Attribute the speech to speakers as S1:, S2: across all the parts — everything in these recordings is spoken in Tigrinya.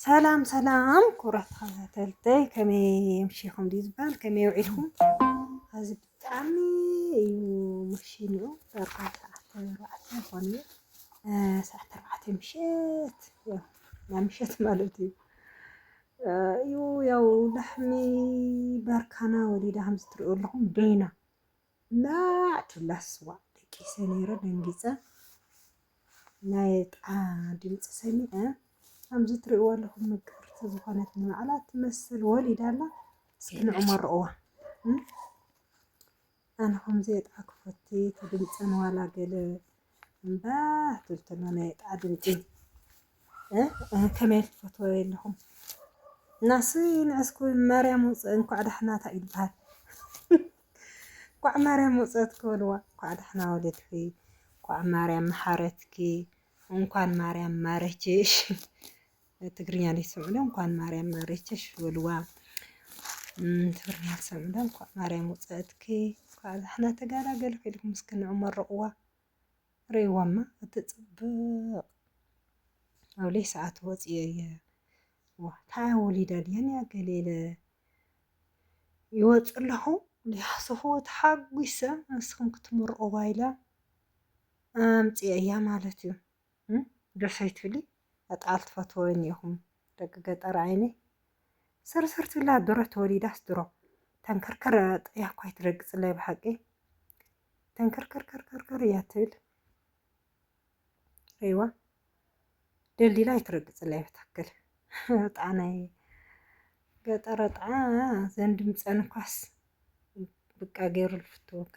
S1: ሰላም ሰላም ክቡራት ተኸታተልተይ ከመይ ምሽኹም ድዩ ዝበሃል ከመይ ውዒልኩም ኣብዚ ብጣዕሚ እዩ ምሽንኡ ደርኳ ሰዓት ኣርባዕተ ኮነ ሰዓት ኣርባዕተ ምሸት ናይ ምሸት ማለት እዩ እዩ ያው ላሕሚ ባርካና ወሊዳ ከምዚ ትሪኡ ኣለኹም በይና ናቱ ላስ ዋእ ደቂሰ ነይረ ደንጊፀ ናይ ጣ ድምፂ ሰሚዐ ከምዚ ትሪእዋ ኣለኹም ምቅርቲ ዝኾነት ንባዕላ ትመስል ወሊዳ ኣላ እስኪ ንዑ መርቕዋ ኣነ ከምዚ የጥዓ ክፈቲ ተድምፀን ዋላ ገለ እምባህ ትብል ተሎ ናይ ጣዓ ድምፂ ከመይ ትፈትዎ የለኹም እናስ ንዕስኩ ማርያም ውፅ እንኳዕ ዳሕና እንታይ እዩ ዝበሃል እንኳዕ ማርያም ውፀት ክበልዋ እንኳዕ ዳሕና ወለድኺ እንኳዕ ማርያም መሓረትኪ እንኳን ማርያም ማረችሽ ትግርኛ ዘይትሰምዑ ዶ እንኳን ማርያም ማረችሽ በልዋ። ትግርኛ ትሰምዑ ዶ እንኳን ማርያም ውፅእትኪ እንኳዕ ዛሕና ተጋላገልኪ ኢልኩም እስኪ ንዑ መርቕዋ ርእይዋማ እትፅብቕ ኣብለይ ሰዓት ወፅዮ እየ ታያ ወሊዳ ድያን እያ ገሌለ ይወፅ ኣለኹ ሊሓስኹ ተሓጒሰ ንስኹም ክትምርቕዋ ኢላ ኣምፅኦ እያ ማለት እዩ ደስ ኣይትብሊ ኣጣል ትፈትወኒ ኢኹም ደቂ ገጠር ዓይኒ ስርስር ትብላ ድሮ ተወሊዳስ ድሮ ተንከርከር ጥያ እኳ ኣይትረግፅለይ ብሓቂ ተንከርከርከርከር እያ ትብል ሪዋ ደልዲላ ኣይትረግፅለይ ብትክክል ጣናይ ገጠረ ጣዓ ዘንድምፀን እኳስ ብቃ ገይሩ ልፍትወካ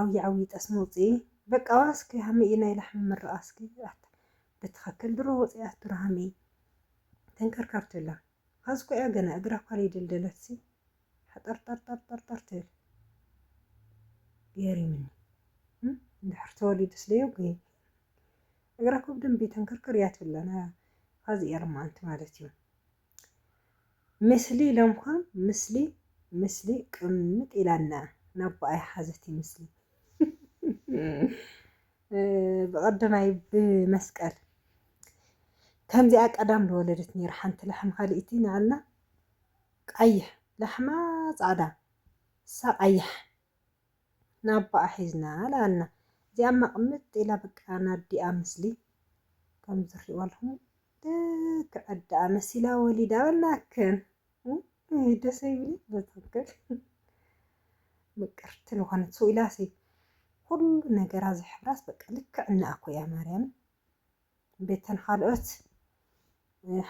S1: ዓውዪ ዓውዪ ጠስሚ ኣውፅኢ በቃ ዋእ እስኪ ሃመይ እዩ ናይ ላሕሚ ምርቓ እስኪ ኣታ ብትኸክል ድሮ ወፂኣት ድሮ ሃመይ ተንከርካርቱላ ኻዚ እኮ እያ ገና እግራ እኳ ለይደልደለትሲ ሓጠርጠርጠርጠርጠር ትብል ገሪምኒ እንድሕር ተወሊዱስ ለዮ ግን እግራ እኮ ብደንቢ ተንከርከር እያ ትብለና ኻዚ እያ ልማኣንቲ ማለት እዩ ምስሊ ለምኳም ምስሊ ምስሊ ቅምጥ ኢላ እንኣ ናቡኣ ይሓዘት ይምስሊ ብቐደማይ ብመስቀል ከምዚኣ ቀዳም ዝወለደት ነይራ ሓንቲ ላሕሚ ካልእቲ ንኣላ ቀይሕ ላሕማ ጻዕዳ እሳ ቀያሕ ናባኣ ሒዝና ላኣልና እዚኣማ ቅምጥ ኢላ በቃ ናዲኣ ምስሊ ከም ዝሪእዋልኩም ልክዕ ኣዳኣ መሲላ ወሊዳ በልናክን ውይ ደስ ይብል በትክክል ምቅርቲ ልኾነት ሰው ኢላሲ ኩሉ ነገራ ዝሕብራስ በቃ ልክዕ እንኣ እኮ እያ ማርያም ቤተን ካልኦት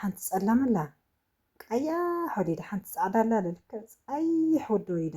S1: ሓንቲ ጸላም ኣላ ቀያሕ ወሊዳ ሓንቲ ጻዕዳ ኣላ ልክዕ ጸይሕ ወዲ ወሊዳ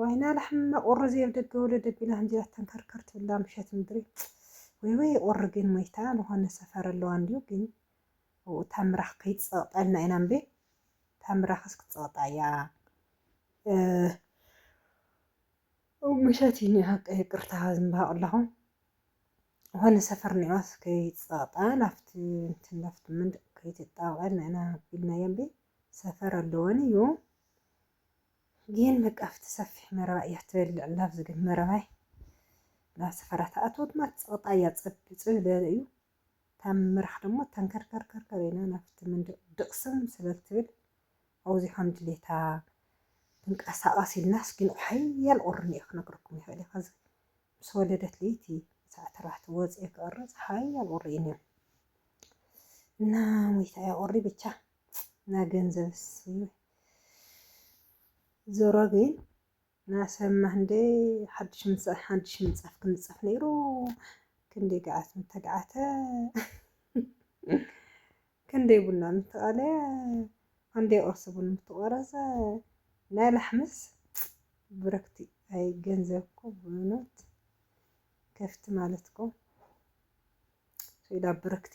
S1: ዋይና ላሕሚ መቁሪ ዘየብ ደገ ወደ ደቢላ ህንጅራት ተንከርከር ትብላ ምሸት ምድሪ ወይ ወይ ቁሪ ግን ሞይታ ዝኾነ ሰፈር ኣለዋ እንዲዩ ግን ኣብኡ ታምራኽ ከይትጸቕጠልና ኢና እምበይ ታምራኽስ ክትጸቕጣ እያ ምሸት እዩ ኒኣ ይቅርታ ዝንባሃ ኣለኹ ዝኾነ ሰፈር ኒኣስ ከይትጸቕጣ ናብቲ እንትን ናብቲ መንደቕ ከይትጣበቐልና ኢና ቢልናያ እምበይ ሰፈር ኣለወን እዩ ግን በቃ ኣብቲ ሰፊሕ መረባ እያ ትበልዕ ኣላ ኣብዚ ግን መረባይ ናብ ሰፈራ ትኣትዎ ድማ እቲ ፀቕጣ እያ ፀብ ፅብ ዝበለ እዩ እታ ምራኽ ደሞ ተንከርከርከርከር ኢላ ናብቲ መንደቕ ድቕስም ስለ ትብል ኣብዚኣ ከም ድሌታ ትንቀሳቐስ ኢልናስ ግን ሓያል ቁርን እየ ክነግረኩም ይኽእል እየ ከዚ ምስ ወለደት ለይቲ ሰዓት ኣርባዕተ ወፂኤ ክቕረፅ ሓያል ቁሪ እዩ ነይሩ እና ሞይታ እያ ቁሪ ብቻ ና ገንዘብ ስም ዞሮ ግን ናሰማ እንደይ ሓድሽ ምንጻፍ ሓድሽ ምንጻፍ ክንጸፍ ነይሩ ክንደይ ገዓት ምተገዓተ ክንደይ ቡና ምተቐለየ ክንደይ ቁርሲ ቡን ምተቖረሰ ናይ ላሕምስ ብረክቲ ኣይ ገንዘብ እኮ ብእውነት ከፍቲ ማለት እኮ ስኢላ ብርክቲ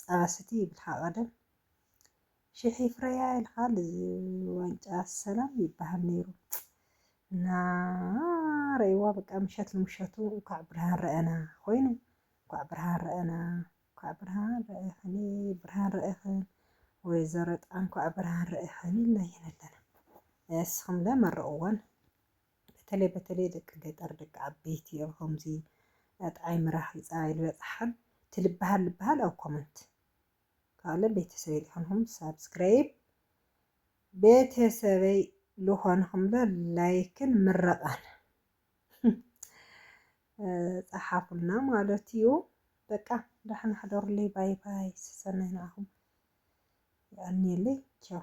S1: ጸባ ስቲ ይብልካ ቀደም ሽሕ ይፍረያ ይልካ ዋንጫ ሰላም ይባሃል ነይሩ እና ረእዋ በቃ ምሸት ንምሸቱ እንኳዕ ብርሃን ረአና ኮይኑ እንኳዕ ብርሃን ረአና እንኳዕ ብርሃን ረእኽኒ ብርሃን ረእኽን ወይዘሮ ጣንኳ ብርሃን ርኢኽን ኢልና ኢና ኣለና ንስኹምለ መርቕወን በተለይ በተለይ ደቂ ገጠር ደቂ ዓበይቲ ኣብ ከምዚ ጣዕይ ምራክ ይፃባይ ልበፅሓን ትልብሃል ልብሃል ኣብ ኮመንት ካለ ቤተሰበይ ልኮንኩም ሳብስክራይብ ቤተሰበይ ልኮንኩም ለ ላይክን ምረቃን ፀሓፉልና ማለት እዩ። በቃ ደሕና ሕደሩለይ። ባይ ባይ። ሰሰናይ ንዓኹም ይቀንየለይ። ቻው